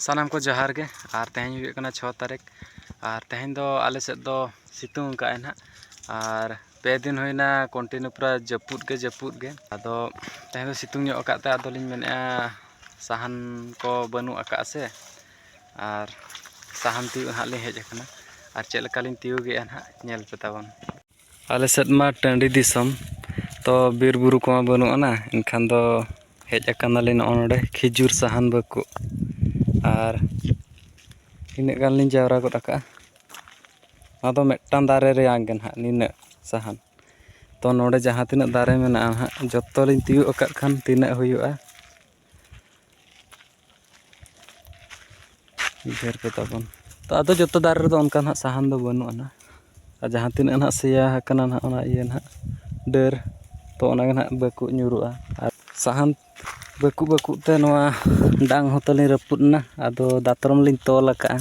ᱥᱟᱱᱟᱢ ᱠᱚ ᱡᱚᱦᱟᱨ ᱜᱮ ᱟᱨ ᱛᱮᱦᱮᱧ ᱦᱩᱭᱩᱜ ᱠᱟᱱᱟ ᱪᱷᱚ ᱛᱟᱹᱨᱤᱠᱷ ᱟᱨ ᱛᱮᱦᱮᱧ ᱫᱚ ᱟᱞᱮ ᱥᱮᱫ ᱫᱚ ᱥᱤᱛᱩᱝ ᱟᱠᱟᱫ ᱟᱭ ᱱᱟᱦᱟᱜ ᱟᱨ ᱯᱮ ᱫᱤᱱ ᱦᱩᱭᱱᱟ ᱠᱚᱱᱴᱤᱱᱤᱭᱩ ᱯᱩᱨᱟᱹ ᱡᱟᱹᱯᱩᱫ ᱜᱮ ᱡᱟᱹᱯᱩᱫ ᱜᱮ ᱟᱫᱚ ᱛᱮᱦᱮᱧ ᱫᱚ ᱥᱤᱛᱩᱝ ᱧᱚᱜ ᱟᱠᱟᱫ ᱛᱮ ᱟᱫᱚ ᱞᱤᱧ ᱢᱮᱱᱮᱫᱼᱟ ᱥᱟᱦᱟᱱ ᱠᱚ ᱵᱟᱹᱱᱩᱜ ᱟᱠᱟᱫᱼᱟ ᱥᱮ ᱟᱨ ᱥᱟᱦᱟᱱ ᱛᱤᱭᱳᱜ ᱱᱟᱦᱟᱜ ᱞᱤᱧ ᱦᱮᱡ ᱟᱠᱟᱱᱟ ᱟᱨ ᱪᱮᱫ ᱞᱮᱠᱟ ᱞᱤᱧ ᱛᱤᱭᱳᱜᱮᱜᱼᱟ ᱱᱟᱦᱟᱜ ᱧᱮᱞ ᱯᱮ ᱛᱟᱵᱚᱱ ᱟᱞᱮ ᱥᱮᱫ ᱢᱟ ᱴᱟᱺᱰᱤ ᱫᱤᱥᱚᱢ ᱛᱚ ᱵᱤᱨ ᱵᱩᱨᱩ ᱠᱚᱢᱟ ᱵᱟᱹᱱᱩᱜ ᱟᱱᱟ ᱮᱱᱠᱷᱟᱱ ᱫᱚ ᱦᱮᱡ ᱟᱠᱟᱱᱟᱞᱤᱧ ᱱᱚᱜᱼᱚ ᱱᱚᱰᱮ ᱠᱷᱤᱡᱩᱨ ᱥᱟᱦᱟᱱ ᱵᱟᱹᱠᱩ ᱟᱨ ᱤᱱᱟᱹᱜ ᱜᱟᱱ ᱞᱤᱧ ᱡᱟᱣᱨᱟ ᱜᱚᱫ ᱟᱠᱟᱫᱼᱟ ᱟᱫᱚ ᱢᱤᱫᱴᱟᱝ ᱫᱟᱨᱮ ᱨᱮᱭᱟᱝ ᱜᱮ ᱱᱟᱦᱟᱜ ᱱᱤᱱᱟᱹᱜ ᱥᱟᱦᱟᱱ ᱛᱚ ᱱᱚᱰᱮ ᱡᱟᱦᱟᱸ ᱛᱤᱱᱟᱹᱜ ᱫᱟᱨᱮ ᱢᱮᱱᱟᱜᱼᱟ ᱱᱟᱦᱟᱜ ᱡᱚᱛᱚ ᱞᱤᱧ ᱛᱤᱭᱳᱜ ᱟᱠᱟᱫ ᱠᱷᱟᱱ ᱛᱤᱱᱟᱹᱜ ᱦᱩᱭᱩᱜᱼᱟ ᱰᱷᱮᱨ ᱜᱮ ᱛᱟᱵᱚᱱ ᱛᱚ ᱟᱫᱚ ᱡᱚᱛᱚ ᱫᱟᱨᱮ ᱨᱮᱫᱚ ᱚᱱᱠᱟ ᱱᱟᱦᱟᱜ ᱥᱟᱦᱟᱱ ᱫᱚ ᱵᱟᱹᱱᱩᱜ ᱟᱱᱟ ᱟᱨ ᱡᱟᱦᱟᱸ ᱛᱤᱱᱟᱹᱜ ᱱᱟᱦᱟᱜ ᱥᱮᱭᱟ ᱟᱠᱟᱱᱟ ᱱᱟᱦᱟᱜ ᱚᱱᱟ ᱤᱭᱟᱹ ᱱᱟᱦᱟᱜ ᱰᱟᱹᱨ ᱛᱚ ᱚᱱᱟ ᱜᱮ ᱱᱟᱦᱟᱜ ᱵᱟᱹᱠᱩᱵ ᱧᱩᱨᱩᱜᱼᱟ ᱟᱨ ᱥᱟᱦᱟᱱ ᱵᱟᱹᱠᱩᱵ ᱵᱟᱹᱠᱩᱵ ᱛᱮ ᱱᱚᱣᱟ ᱰᱟᱝ ᱦᱚᱸ ᱛᱟᱹᱞᱤᱧ ᱨᱟᱹᱯᱩᱫ ᱮᱱᱟ ᱟᱫᱚ ᱫᱟᱛᱨᱚᱢ ᱞᱤᱧ ᱛᱚᱞ ᱟᱠᱟᱫᱼᱟ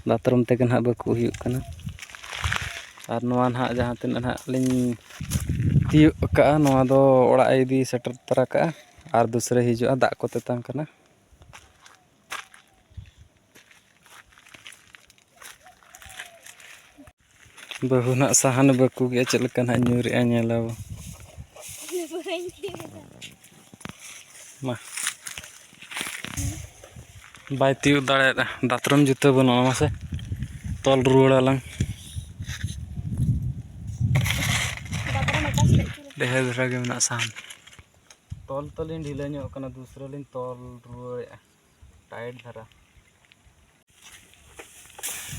ᱫᱟᱛᱨᱚᱢ ᱛᱮᱜᱮ ᱱᱟᱦᱟᱜ ᱵᱟᱹᱠᱩᱵ ᱦᱩᱭᱩᱜ ᱠᱟᱱᱟ ᱟᱨ ᱱᱚᱣᱟ ᱱᱟᱦᱟᱜ ᱡᱟᱦᱟᱸ ᱛᱤᱱᱟᱹᱜ ᱱᱟᱦᱟᱜ ᱞᱤᱧ ᱛᱤᱭᱳᱜ ᱟᱠᱟᱫᱼᱟ ᱱᱚᱣᱟ ᱫᱚ ᱚᱲᱟᱜ ᱤᱫᱤ ᱥᱮᱴᱮᱨ ᱛᱟᱨᱟ ᱠᱟᱜᱼᱟ ᱟᱨ ᱫᱩᱥᱨᱟᱹ ᱦᱤᱡᱩᱜᱼᱟ ᱫᱟᱜ ᱠᱚ ᱛᱮᱛᱟᱝ ᱠᱟᱱᱟ ᱵᱟᱹᱦᱩ ᱱᱟᱜ ᱥᱟᱦᱟᱱ ᱵᱟᱹᱠᱩ ᱜᱮ ᱪᱮᱫ ᱞᱮᱠᱟ ᱱᱟᱜ ᱧᱩᱨᱮᱜᱼᱟ ᱧᱮᱞᱟᱵᱚ ᱢᱟ ᱵᱟᱭ ᱛᱤᱭᱳᱜ ᱫᱟᱲᱮᱭᱟᱫᱟ ᱫᱟᱛᱨᱚᱢ ᱡᱩᱛᱟᱹ ᱵᱟᱹᱱᱩᱜᱼᱟ ᱢᱟᱥᱮ ᱛᱚᱞ ᱨᱩᱣᱟᱹᱲᱟᱞᱟᱝ ᱰᱷᱮᱨ ᱫᱷᱟᱨᱟ ᱜᱮ ᱢᱮᱱᱟᱜᱼᱟ ᱥᱟᱦᱟᱱ ᱛᱚᱞ ᱛᱚᱞᱤᱧ ᱰᱷᱤᱞᱟᱹ ᱧᱚᱜ ᱠᱟᱱᱟ ᱫᱩᱥᱨᱟᱹ ᱞᱤᱧ ᱛᱚᱞ ᱨᱩᱣᱟᱹᱲᱮᱜᱼᱟ ᱴᱟᱭᱤᱴ ᱫᱷᱟᱨᱟ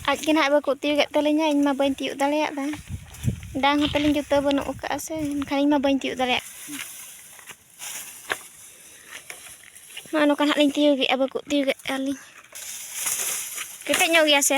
ᱟᱡ ᱜᱮ ᱱᱟᱦᱟᱜ ᱵᱟᱠᱚ ᱛᱤᱭᱳᱜᱮᱫ ᱛᱟᱹᱞᱤᱧᱟ ᱤᱧ ᱢᱟ ᱵᱟᱹᱧ ᱛᱤᱭᱳᱜ ᱫᱟᱲᱮᱭᱟᱜᱼᱟ ᱰᱟᱝ ᱦᱚᱸ ᱛᱟᱹᱞᱤᱧ ᱡᱩᱛᱟᱹ ᱵᱟᱹᱱᱩᱜ ᱟᱠᱟᱫᱼᱟ ᱥᱮ ᱮᱱᱠᱷᱟᱱ ᱤᱧ ᱢᱟ ᱵᱟᱹᱧ ᱛᱤᱭᱳᱜ ᱫᱟᱲᱮᱭᱟᱜ ᱱᱚᱜᱼᱚ ᱱᱚᱝᱠᱟ ᱱᱟᱦᱟᱜ ᱞᱤᱧ ᱛᱤᱭᱳᱜᱮᱫᱼᱟ ᱵᱟᱠᱚ ᱛᱤᱭᱳᱜᱮᱫ ᱛᱟᱹᱞᱤᱧ ᱠᱮᱴᱮᱡ ᱧᱚᱜ ᱜᱮᱭᱟ ᱥᱮ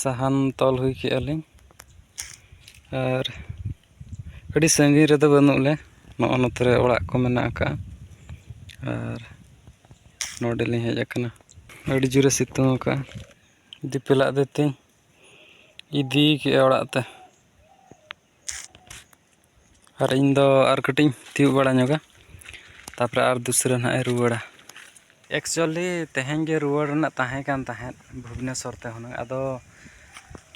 ᱥᱟᱦᱟᱱ ᱛᱚᱞ ᱦᱩᱭ ᱠᱮᱜᱼᱟ ᱞᱤᱧ ᱟᱨ ᱟᱹᱰᱤ ᱥᱟᱺᱜᱤᱧ ᱨᱮᱫᱚ ᱵᱟᱹᱱᱩᱜ ᱞᱮ ᱱᱚᱜᱼᱚ ᱱᱚᱛᱮ ᱨᱮ ᱚᱲᱟᱜ ᱠᱚ ᱢᱮᱱᱟᱜ ᱟᱠᱟᱜᱼᱟ ᱟᱨ ᱱᱚᱰᱮ ᱞᱤᱧ ᱦᱮᱡ ᱟᱠᱟᱱᱟ ᱟᱹᱰᱤ ᱡᱳᱨᱮ ᱥᱤᱛᱩᱝ ᱟᱠᱟᱜᱼᱟ ᱫᱤᱯᱤᱞᱟᱜ ᱫᱚ ᱛᱤᱧ ᱤᱫᱤ ᱠᱮᱜᱼᱟ ᱚᱲᱟᱜ ᱛᱮ ᱟᱨ ᱤᱧ ᱫᱚ ᱟᱨ ᱠᱟᱹᱴᱤᱡ ᱤᱧ ᱛᱤᱭᱳᱜ ᱵᱟᱲᱟ ᱧᱚᱜᱟ ᱛᱟᱨᱯᱚᱨᱮ ᱟᱨ ᱫᱩᱥᱨᱟᱹ ᱱᱟᱦᱟᱜ ᱮ ᱨᱩᱣᱟᱹᱲᱟ ᱮᱠᱪᱩᱭᱮᱞᱤ ᱛᱮᱦᱮᱧ ᱜᱮ ᱨᱩᱣᱟᱹᱲ ᱨᱮᱱᱟᱜ ᱛᱟᱦᱮᱸ ᱠᱟᱱ ᱛᱟᱦᱮᱸᱫ ᱵᱷᱩᱵᱽᱱᱮᱥᱥᱚᱨ ᱛᱮ ᱦᱩᱱᱟᱹᱝ ᱟᱫᱚ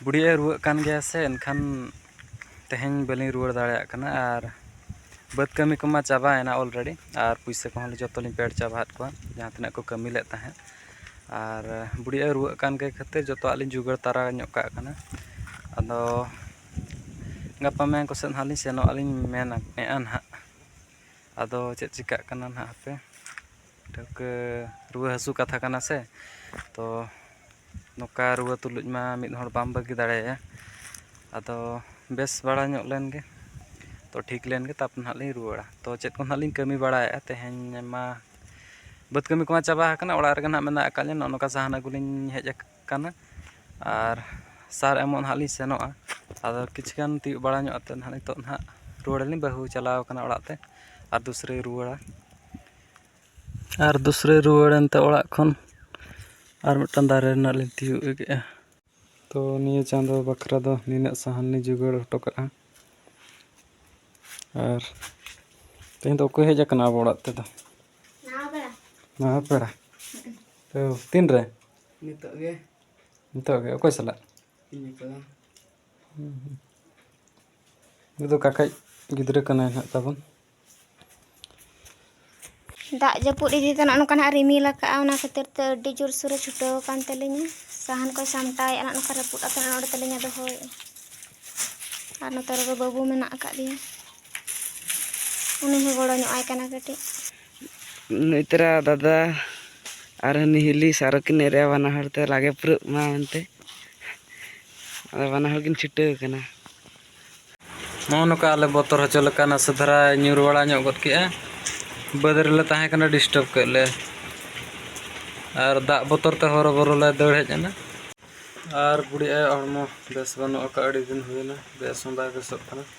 ᱵᱩᱰᱷᱤ ᱟᱭᱳᱭ ᱨᱩᱣᱟᱹᱜ ᱠᱟᱱ ᱜᱮᱭᱟ ᱥᱮ ᱮᱱᱠᱷᱟᱱ ᱛᱮᱦᱮᱧ ᱵᱟᱹᱞᱤᱧ ᱨᱩᱣᱟᱹᱲ ᱫᱟᱲᱮᱭᱟᱜ ᱠᱟᱱᱟ ᱟᱨ ᱵᱟᱹᱫᱽ ᱠᱟᱹᱢᱤ ᱠᱚᱢᱟ ᱪᱟᱵᱟᱭᱮᱱᱟ ᱚᱞᱨᱮᱰᱤ ᱟᱨ ᱯᱩᱭᱥᱟᱹ ᱠᱚᱦᱚᱸ ᱡᱚᱛᱚ ᱞᱤᱧ ᱯᱮᱰ ᱪᱟᱵᱟ ᱟᱫ ᱠᱚᱣᱟ ᱡᱟᱦᱟᱸ ᱛᱤᱱᱟᱹᱜ ᱠᱚ ᱠᱟᱹᱢᱤ ᱞᱮᱫ ᱛᱟᱦᱮᱸᱫ ᱟᱨ ᱵᱩᱰᱷᱤ ᱟᱭᱳᱭ ᱨᱩᱣᱟᱹᱜ ᱠᱟᱱ ᱠᱷᱟᱹᱛᱤᱨ ᱡᱚᱛᱚᱣᱟᱜ ᱞᱤᱧ ᱡᱳᱜᱟᱲ ᱛᱟᱨᱟ ᱧᱚᱜ ᱠᱟᱜ ᱠᱟᱱᱟ ᱟᱫᱚ ᱜᱟᱯᱟ ᱢᱮᱭᱟᱝ ᱠᱚᱥᱮᱫ ᱱᱟᱦᱟᱜ ᱞᱤᱧ ᱥᱮᱱᱚᱜ ᱟᱹᱞᱤᱧ ᱢᱮᱱᱮᱫᱼᱟ ᱱᱟᱦᱟᱜ ᱟᱫᱚ ᱪᱮᱫ ᱪᱤᱠᱟᱹᱜ ᱠᱟᱱᱟ ᱱᱟᱦᱟᱜ ᱦᱟᱯᱮ ᱴᱷᱟᱹᱣᱠᱟᱹ ᱨᱩᱣᱟᱹ ᱦᱟᱹᱥᱩ ᱠᱟᱛᱷᱟ ᱠᱟᱱᱟ ᱥᱮ ᱛᱚ ᱱᱚᱝᱠᱟ ᱨᱩᱣᱟᱹ ᱛᱩᱞᱩᱡ ᱢᱟ ᱢᱤᱫ ᱦᱚᱲ ᱵᱟᱢ ᱵᱟᱹᱜᱤ ᱫᱟᱲᱮᱭᱟᱭᱟ ᱟᱫᱚ ᱵᱮᱥ ᱵᱟᱲᱟ ᱧᱚᱜ ᱞᱮᱱ ᱜᱮ ᱛᱚ ᱴᱷᱤᱠ ᱞᱮᱱ ᱜᱮ ᱛᱟᱨᱯᱚᱨᱮ ᱱᱟᱦᱟᱜ ᱞᱤᱧ ᱨᱩᱣᱟᱹᱲᱟ ᱛᱚ ᱪᱮᱫ ᱠᱚ ᱱᱟᱦᱟᱜ ᱞᱤᱧ ᱠᱟᱹᱢᱤ ᱵᱟᱲᱟᱭᱮᱫᱼᱟ ᱛᱮᱦᱮᱧ ᱢᱟ ᱵᱟᱹᱫᱽ ᱠᱟᱹᱢᱤ ᱠᱚᱢᱟ ᱪᱟᱵᱟ ᱟᱠᱟᱱᱟ ᱚᱲᱟᱜ ᱨᱮᱜᱮ ᱱᱟᱦᱟᱜ ᱢᱮᱱᱟᱜ ᱟᱠᱟᱫ ᱞᱤᱧ ᱱᱚᱜᱼᱚ ᱱᱚᱝᱠᱟ ᱥᱟᱦᱟᱱ ᱟᱹᱜᱩ ᱞᱤᱧ ᱦᱮᱡ ᱟᱠᱟᱱᱟ ᱠᱟᱱᱟ ᱟᱨ ᱥᱟᱨ ᱮᱢᱚᱜ ᱱᱟᱦᱟᱜ ᱞᱤᱧ ᱥᱮᱱᱚᱜᱼᱟ ᱟᱫᱚ ᱠᱤᱪᱷᱩ ᱜᱟᱱ ᱛᱤᱭᱳᱜ ᱵᱟᱲᱟ ᱧᱚᱜ ᱠᱟᱛᱮᱫ ᱱᱟᱦᱟᱜ ᱱᱤᱛᱚᱜ ᱱᱟᱦᱟᱜ ᱨᱩᱣᱟᱹᱲ ᱟᱹᱞᱤᱧ ᱵᱟᱹᱦᱩ ᱪᱟᱞᱟᱣ ᱠᱟᱱᱟ ᱚᱲᱟᱜ ᱛᱮ ᱟᱨ ᱫᱩᱥᱨᱟᱹᱭ ᱨᱩᱣᱟᱹᱲᱟ ᱟᱨ ᱫᱩᱥᱨᱟᱹᱭ ᱨᱩᱣᱟᱹᱲ ᱮᱱᱛᱮ ᱚᱲᱟᱜ ᱠᱷᱚᱱ ᱟᱨ ᱢᱤᱫᱴᱟᱱ ᱫᱟᱨᱮ ᱨᱮᱱᱟᱜ ᱞᱤᱧ ᱛᱤᱭᱳᱜ ᱠᱮᱫᱼᱟ ᱛᱚ ᱱᱤᱭᱟᱹ ᱪᱟᱸᱫᱚ ᱵᱟᱠᱷᱨᱟ ᱫᱚ ᱱᱤᱱᱟᱹᱜ ᱥᱟᱦᱟᱱ ᱞᱤᱧ ᱡᱳᱜᱟᱲ ᱦᱚᱴᱚ ᱠᱟᱜᱼᱟ ᱟᱨ ᱛᱮᱦᱮᱧ ᱫᱚ ᱚᱠᱚᱭ ᱦᱮᱡ ᱟᱠᱟᱱᱟ ᱟᱵᱚ ᱚᱲᱟᱜ ᱛᱮᱫᱚ ᱱᱟᱣᱟ ᱯᱮᱲᱟ ᱛᱚ ᱛᱤᱱᱨᱮ ᱱᱤᱛᱚᱜ ᱜᱮ ᱱᱤᱛᱚᱜ ᱜᱮ ᱚᱠᱚᱭ ᱥᱟᱞᱟᱜ ᱱᱤᱛᱚᱜ ᱩᱱᱤ ᱫᱚ ᱠᱟᱠᱟᱡ ᱜᱤᱫᱽᱨᱟᱹ ᱠᱟᱱᱟᱭ ᱦᱟᱸᱜ ᱛᱟᱵᱚᱱ ᱫᱟᱜ ᱡᱟᱹᱯᱩᱫ ᱤᱫᱤ ᱛᱮ ᱱᱚᱜᱼᱚ ᱱᱚᱝᱠᱟ ᱱᱟᱜ ᱨᱤᱢᱤᱞ ᱟᱠᱟᱫᱼᱟ ᱚᱱᱟ ᱠᱷᱟᱹᱛᱤᱨ ᱛᱮ ᱟᱹᱰᱤ ᱡᱳᱨ ᱥᱳᱨᱮ ᱪᱷᱩᱴᱟᱹᱣ ᱟᱠᱟᱱ ᱛᱟᱹᱞᱤᱧᱟ ᱥᱟᱦᱟᱱ ᱠᱚᱭ ᱥᱟᱢᱴᱟᱣᱮᱫᱼᱟ ᱱᱚᱜᱼᱚ ᱱᱚᱝᱠᱟ ᱨᱟᱹᱯᱩᱫ ᱟᱠᱟᱱᱟ ᱱᱚᱰᱮ ᱛᱟᱹᱞᱤᱧᱟ ᱫᱚᱦᱚᱭᱮᱫᱼᱟ ᱟᱨ ᱱᱚᱛᱮ ᱨᱮᱫᱚ ᱵᱟᱹᱵᱩ ᱢᱮᱱᱟᱜ ᱟᱠᱟᱫᱮᱭᱟ ᱩᱱᱤ ᱦᱚᱸ ᱜᱚᱲᱚ ᱧᱚᱜ ᱟᱭ ᱠᱟᱱᱟ ᱠᱟᱹᱴᱤᱡ ᱱᱩᱭᱛᱨᱟ ᱫᱟᱫᱟ ᱟᱨ ᱦᱟᱹᱱᱤ ᱦᱤᱞᱤ ᱥᱟᱨᱚ ᱠᱤᱱ ᱮᱨᱮᱜᱼᱟ ᱵᱟᱱᱟ ᱦᱚᱲ ᱛᱮ ᱞᱟᱜᱮ ᱯᱩᱨᱟᱹᱜ ᱢᱟ ᱢᱮᱱᱛᱮ ᱟᱫᱚ ᱵᱟᱱᱟ ᱦᱚᱲ ᱠᱤᱱ ᱪᱷᱩᱴᱟᱹᱣ ᱠᱟᱱᱟ ᱱᱚᱜᱼᱚ ᱱᱚᱝᱠᱟ ᱟᱞᱮ ᱵᱚᱛᱚᱨ ᱦᱚᱪᱚ ᱞᱮᱠᱟ ᱱᱟᱥᱮ ᱫᱷᱟᱨᱟ ᱧᱩᱨ ᱵᱟᱲᱟ ᱧᱚᱜ ᱜᱚᱫ ᱠᱮᱜᱼᱟ ᱵᱟᱹᱫᱽ ᱨᱮᱞᱮ ᱛᱟᱦᱮᱸ ᱠᱟᱱᱟ ᱰᱤᱥᱴᱟᱨᱵ ᱠᱮᱫ ᱞᱮ ᱟᱨ ᱫᱟᱜ ᱵᱚᱛᱚᱨ ᱛᱮ ᱦᱚᱨᱚ ᱵᱚᱨᱚ ᱞᱮ ᱫᱟᱹᱲ ᱦᱮᱡ ᱮᱱᱟ ᱟᱨ ᱵᱩᱰᱷᱤ ᱟᱭᱳ ᱦᱚᱲᱢᱚ ᱵᱮᱥ ᱵᱟᱹᱱᱩᱜ ᱟᱠᱟᱫᱼᱟ ᱟᱹᱰᱤ ᱫᱤᱱ ᱦᱩᱭᱮᱱᱟ ᱵᱮᱥ ᱦᱚᱸ ᱵᱟᱭ ᱵᱮᱥᱚᱜ ᱠᱟᱱᱟ